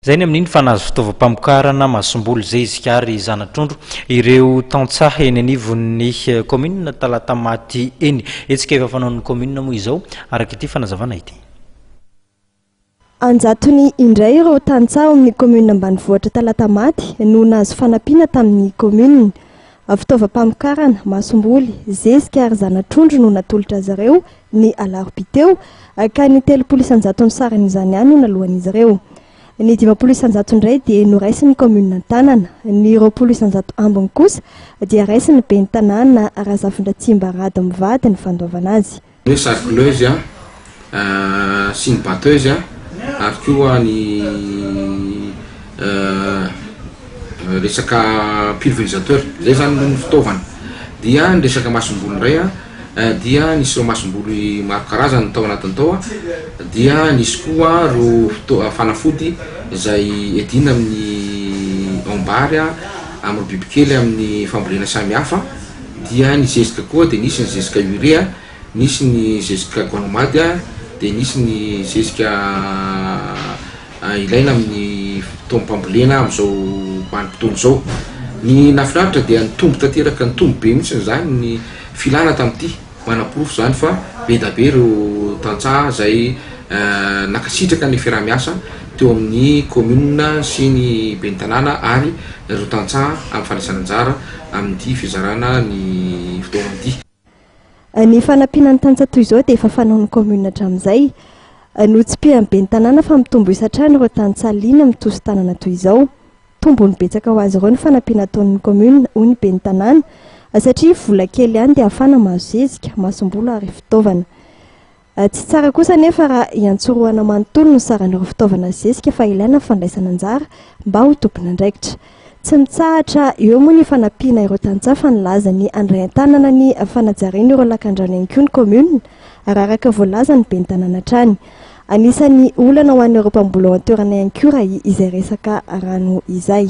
Izay ny amin'iny fa nahazo fitaovam-pamokarana masomboly zezika ary zana-trondro ireo tantsaha eny anivon'ny kaominina Talatamaty eny. Hetsika efa fanaon'ny kaominina moa izao araka ity fanazavana ity. An-jatony indray ireo tantsaha ao amin'ny kaominina ambanivohitra Talatamaty no nahazo fanampiana tamin'ny kaominina. Fitaovam-pamokarana, masomboly, zezika ary zana-trondro no natolotra azy ireo, ny alarobia teo, ka ny telopolo isan-jatony sarany izany ihany no naloan'izy ireo. Ny dimampolo isan-jato indray dia noraisin'ny kaominina an-tanana. Ny roapolo isan-jato ambiny kosa dia raisin'ny ben'ny tanàna Razafindratsimba Rado mivady ny fandoavana azy. Ny hoe sarcleuse sy ny batteuse ary koa ny resaka pulverisateur izay zany aloha ny fitaovana dia ny resaka masomboly indray dia ny sirop masomboly maro karazany tao anatiny tao dia nisy koa ireo fanafody izay edina amin'ny aom-bary amin'ireo bibikely amin'ny fambolena samihafa. Dia ny zezika koa dia nisy ny zezika urea, nisy ny zezika gonmade, dia nisy ny zezika ilaina amin'ny fotoam-pambolena amin'izao vanim-potoana izao. Ny nahafinaritra dia nitombo tanteraka, nitombo be mihitsy izany ny filana tamin'ity. Manaporofo izany fa be dia be ireo tantsaha izay nankasitraka ny fiaraha-miasa. teo amin'ny kaominina sy ny ben'ny tanàna ary ireo tantsaha amin'ny fandraisana anjara amin'ity fizarana ny fitaovana ity. Ny fanampiana ny tantsaha toy izao dia efa fanaon'ny kaominina hatramin'izay. Notsipihan'ny ben'ny tanàna fa mitombo isa hatrany ireo tantsaha liana mitoso tanana toy izao. Tombony betsaka ho azy ireo ny fanampiana ataon'ny kaominina, hoy ny ben'ny tanàna, satria vola kely ihany dia ahafahana mahazo zezika, masomboly ary fitaovana. Tsy tsara kosa anefa raha iantsorohana manontolo ny saran'ireo fitaovana zezika fa ilaina ny fandraisana anjara mba ho tompon'andraikitra. Tsy mitsahatra eo moa ny fanampiana ireo tantsaha fa nilaza ny handray an-tanana ny fanajariana ireo lakandrano ihany koa ny kaominina, raha araka voalazan'ny ben'ny tanàna hatrany. Anisan'ny olana ho an'ireo mpamboly ao an-toerana ihany koa raha izay resaka rano izay.